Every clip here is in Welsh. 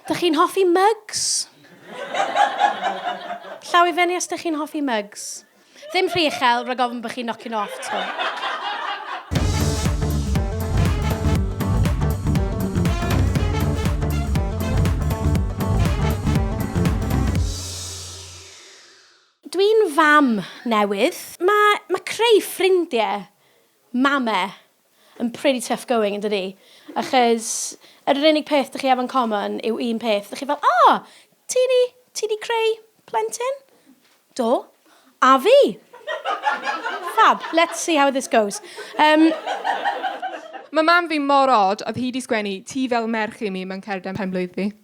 Dych chi'n hoffi mugs? Llaw i fyny os dych chi'n hoffi mugs. Ddim rhy uchel, rhag ofn bod chi'n nocio nhw off, ti'n Dwi'n fam newydd. Mae, mae creu ffrindiau, mame, yn pretty tough going yn dydi? Achos yr yr unig peth dych chi efo yn common yw un peth, dych chi fel o! Ti 'di ti 'di creu plentyn? Do. A fi! Fab! Let's see how this goes. Yym. Ma' mam fi mor od, oedd hi 'di sgwennu 'Ti fel merch i mi' mewn cerdyn pen-blwydd fi.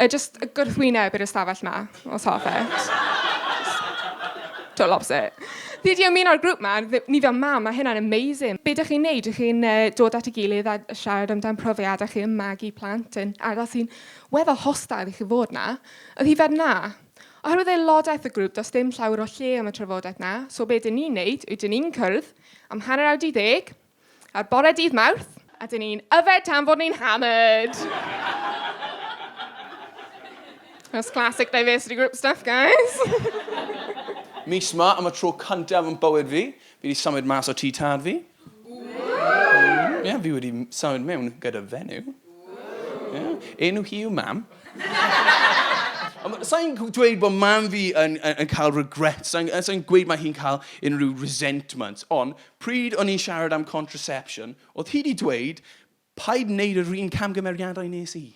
Yy jyst gwrthwyneb i'r ystafell 'ma, os hoff e. Total opposite. Fi 'di ymuno â'r grŵp 'ma, ni fel mam, mae hynna'n amazing. Be dach chi'n wneud? Dach chi'n yy dod at ei gilydd a siarad amdan profiadau chi yn magu plant yn ardal sy'n weddol hostil i chi fod 'na? Oedd hi fel 'na. Oherwydd aelodaeth y grŵp, does dim llawer o lle am y trafodaeth 'na, so be dan ni'n wneud yw dan ni'n cwrdd am hanner awr 'di ddeg, Ar bore dydd Mawrth. A dyn ni'n yfed tan fod ni'n hammered. That's classic diversity group stuff, guys. Mis ma, am y tro cyntaf yn bywyd fi, fi wedi symud mas o tŷ tad fi. Ie, yeah, fi wedi symud mewn gyda fenyw. Yeah. Enw hi yw mam. Sa'n dweud bod mam fi yn, yn, yn cael regret, sa'n sa gweud mae hi'n cael unrhyw resentment, ond Pryd o'n i'n siarad am contraception, oedd hi 'di dweud, paid wneud yr un camgymeriadau nes i.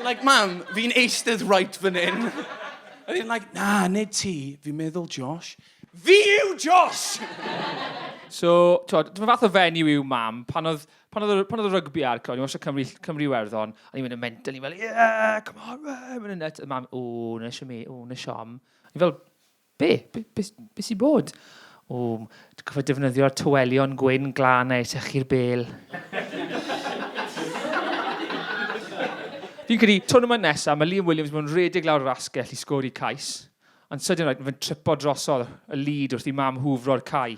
like, mam, fi'n eistedd right fan hyn. O'n i'n like, na, nid ti, fi'n meddwl Josh. Fi yw Josh! so, twod, dyma fath o fenyw yw mam, pan oedd, pan oedd, pan oedd y rygbi ar, clod, ni'n wasio Cymru, Cymru Werddon, a ni'n mynd yn mental, ni'n fel, yeah, come on, yeah, mynd yn net, a mam, o, na eisiau mi, o, na siom. Ni'n fel, Be? Be, be, be sy'n bod? O, dwi'n cofio defnyddio'r tywelion gwyn glân a etechu'r bel. Fi'n credu, tournament nesaf, mae Liam Williams mewn redig lawr yr asgell i sgori cais, ond sydyn rhaid, mae fe'n tripo drosodd y lid wrth i mam hwfro'r cae.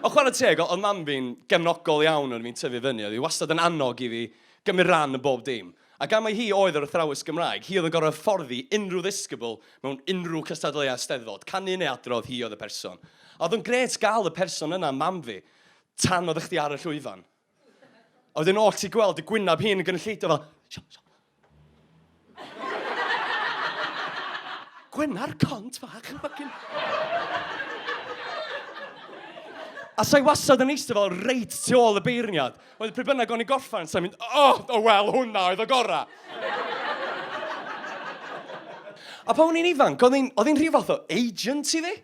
Ond chwarae teg, oedd mam fi'n gefnogol iawn wrth i fi'n tyfu fyny, oedd hi wastad yn annog i fi gymryd rhan yn bob dim. Ac am mai hi oedd yr athrawes Gymraeg, hi oedd yn gorfod hyfforddi unrhyw ddisgybl mewn unrhyw cystadleuaeth Steddfod, canu neu adrodd, hi oedd y person. A oedd o'n grêt gael y person yna, mam fi, tan oeddech chdi ar y llwyfan. A wedyn oll ti gweld y gwynab hi'n yn gynulleidfa fel, siom, siom. Gwenar cont fach yn ffycin... A sa i wastad yn eistedd fel reit tu ôl y beirniad? Oedd pryd bynnag o'n i'n gorffen, sa'n mynd, o, o wel, hwnna oedd y gorau. a pan o'n i'n ifanc, oedd hi'n oedd rhyw fath o agent i fi.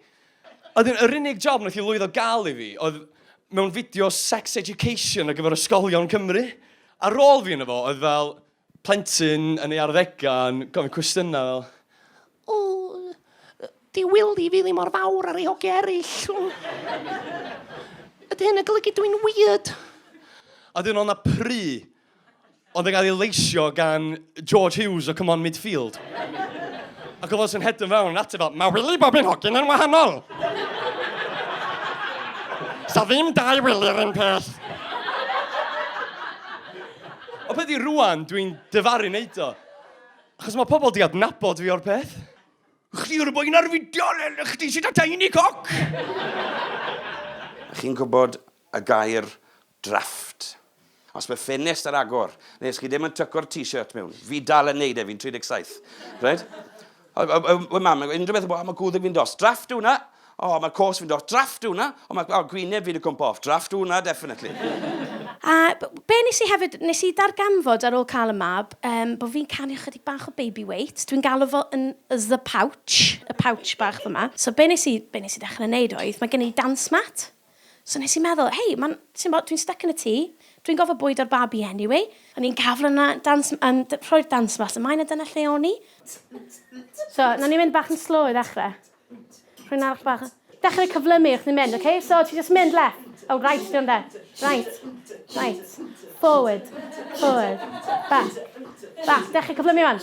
Oedd yr unig job wnaeth i lwyddo gael i fi oedd mewn fideo sex education ar gyfer ysgolion Cymru. Ar ôl fi yn efo, oedd fel, Plentyn yn ei arddegau yn gofyn cwestiynau fel, O, 'di Wili fi ddim mor fawr â rhai hogiau eraill? Ydy hyn yn golygu dw i'n weird? A wedyn oedd 'na pry oedd yn cael ei leisio gan George Hughes o Come On Midfield. Ac oedd o jyst yn hedfan fewn yn ateb fel, 'Ma Wili bob un hogyn yn wahanol! 'Sa ddim dau Wili yr un peth! O beth i rwan, dwi'n dyfaru wneud o. Achos mae pobl di adnabod fi o'r peth. Chdi yw'r boi na'r fideo, chdi sydd â tiny cock! Chi'n gwybod y gair drafft? Os mae ffenest ar agor, neu os chi ddim yn tyco'r t-shirt mewn, fi dal yn neud e, fi'n 37. Reit? Oedd oedd oedd oedd mam yn gweud unrhyw beth yn bod, o mae gwddg fi'n dos, drafft yw hwnna! O mae'r cos fi'n dos, drafft yw hwnna! O mae o, gwyneb fi 'di cwmpo off, drafft yw hwnna definitely! A b- be nes i hefyd, nes i ddarganfod ar ôl cael y mab yym bod fi'n canu ychydig bach o baby weight, dwi'n galw fo yn the pouch, y pouch bach fyma. So be nes i be nes i ddechrau neud oedd, mae gen i dance mat. So nes i meddwl, hei, mae'n, ti'n bod, dwi'n stuck yn y tŷ, dwi'n gofod bwydo'r babi anyway, o'n i'n gafl yna, dans, yn, rhoi'r dans mas ymlaen, a dyna lle o'n i. So, na ni'n mynd bach yn slow i ddechrau. Rwy'n arall bach. Dechrau cyflymu wrth ni'n mynd, oce? Okay? So, ti just mynd left. Oh, right, dwi'n de. Right. Right. Forward. Forward. Back. Back. Dechrau cyflymu o'n.